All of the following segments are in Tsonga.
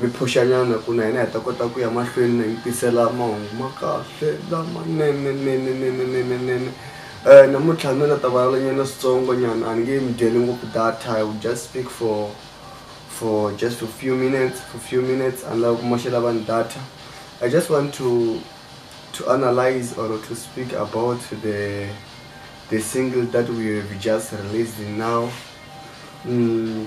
Mi phuxanyana ku na hina hi ta kota ku ya mahlweni na mi tisela mahungu ma kahle lamanene nene nene nene nene um namuntlha ni la ta vulavulanyana switsongo nyana a ni nge mi dyeli ngopfu data i will just speak for for just for few minutes for few minutes a ni lava ku moxela vanhu data i just want to to analyze or to speak about the the single that we have just released now mm.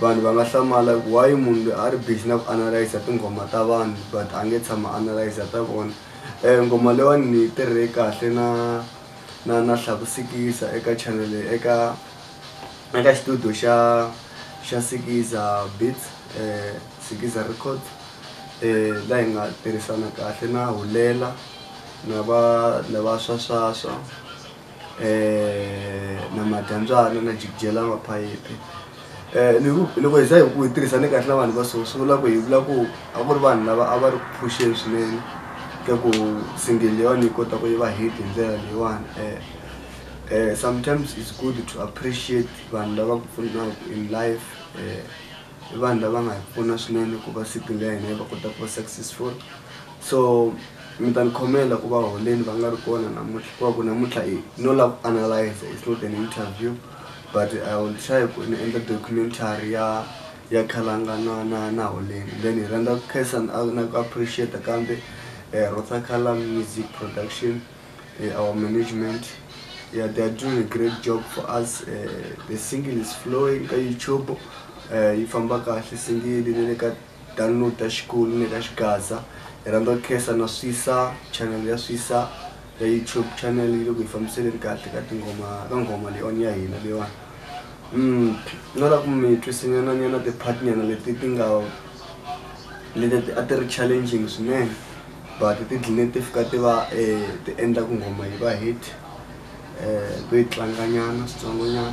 vanhu va nga hlamala ku why munhu loyi a ri busy na ku analyse tinghoma ta vanhu but a nge tshama analyse ta vona um nghoma leyiwani ni yi tirhe kahle na na na hlakusikisa eka channel eka eka xitudio xa xa sikiza beats um sikiza records um la hi nga tirhisana kahle na hulela na va na va swaswaswa. um na madyandzana na jikidyela maphayiphi um loko hi za hi ku hi tirhisane kahle na vanhu va so swi vula ku hi vula ku a ku ri vanhu lava a va ri ku phuxeni swinene ka ku single yona yi kota ku yi va hit hi ndlela leyiwani um sometimes it's good to appreciate vanhu lava ku pfunaka in life um vanhu lava nga hi pfuna swinene ku va siku leyi na yi va kota ku va successful so Mi ta ni khomela ku va holeni va nga ri kona namuntlha hikuva ku namuntlha hi no lava ku analyze it's not an interview but i will try ku ni endla documentary ya ya khalanga na na na holeni then hi rhandza ku khensa na na ku appreciate kambe eh, rotsa khalang music production eh, our management yeah they are doing a great job for us eh, the single is flowing ka youtube eh, yi famba kahle single ni le ka download ta xikulu ni ta xigaza hi rhandza ku khensa na swisa channel ya swisa ya youtube channel yi le ku yi fambiseleni kahle ka tinghoma ka nghoma leyiwani ya hina leyiwani mm no la ku mi twisinyana nyana ti-part nyana leti ti nga leti a ti ri challenging swinene but ti dline ti fika ti va um ti endla ku nghoma yi va hit um to yi tlanganyana switsongonyana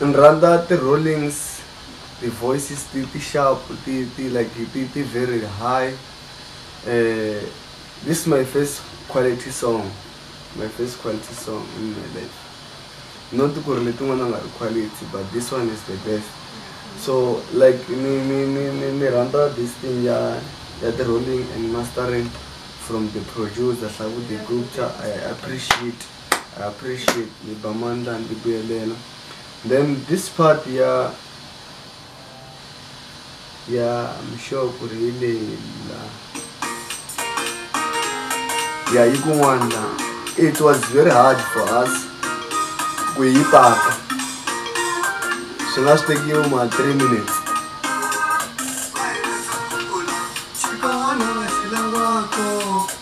ni rhandza ti-rollings ti-voices ti ti sharp ti ti like ti ti very high uh, this is my first quality song my first quality song in my life not ku ri letin'wana nga ri quality but this one is the best so like ni ni ni ni ni rhandza this thing ya ya ti rolling and mastering from the producer hlavuti gupta i appreciate i appreciate ni ba mandla ni ti buyelela then this part ya ya I'm sure ku ri hi leyi la ya yi kun'wana la it was very hard for us ku yi paka swi nga swi tekiwe ma three minutes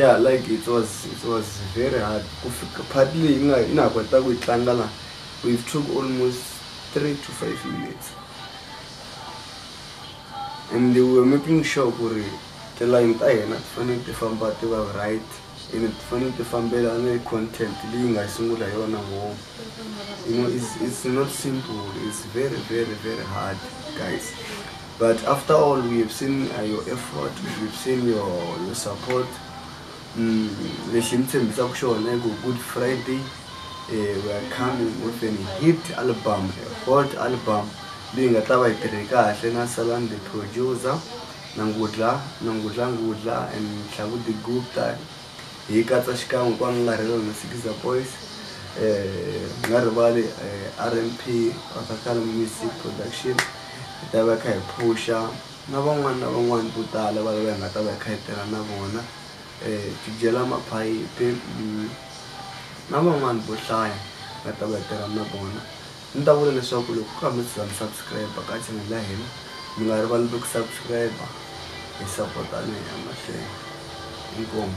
ya like it was it was very hard ku fika part leyi i nga i nga ha kota ku yi tlanga la we took almost three to five minutes and we were making sure ku ri tilayini ta hina ti fanele ti famba ti va right ene ti fanele ti fambelana hi content leyi nga yi sungula hi yona ngopfu you know it's, it's not simple it's very very very hard guys but after all we have seen uh, your effort we have seen your, your support mm, lexi mi tshembisaka xona i ku good friday eh, we are coming with an hit album a hot album leyi nga ta va yi tirhe kahle na salan the producer Nangudla, Nangudla Ngudla and Mhlabudi Gupta hi katsa xikan'we ku angarhela na Sikiza Boys, hi nga rivali RMP, Rhatakhale Music Production, hi ta va hi kha hi phuxa na van'wani na van'wani vo tala va lava hi nga ta va hi kha hi tirha na vona Tidyela Maphayiphi na van'wani vo hlaya hi nga ta va hi tirha na vona. Ni ta vula leswaku loko ku hambi siza mi subscribe ka channel ya hina mi nga rivali ku subscribe hi sapotana hi ya mahlweni inkomu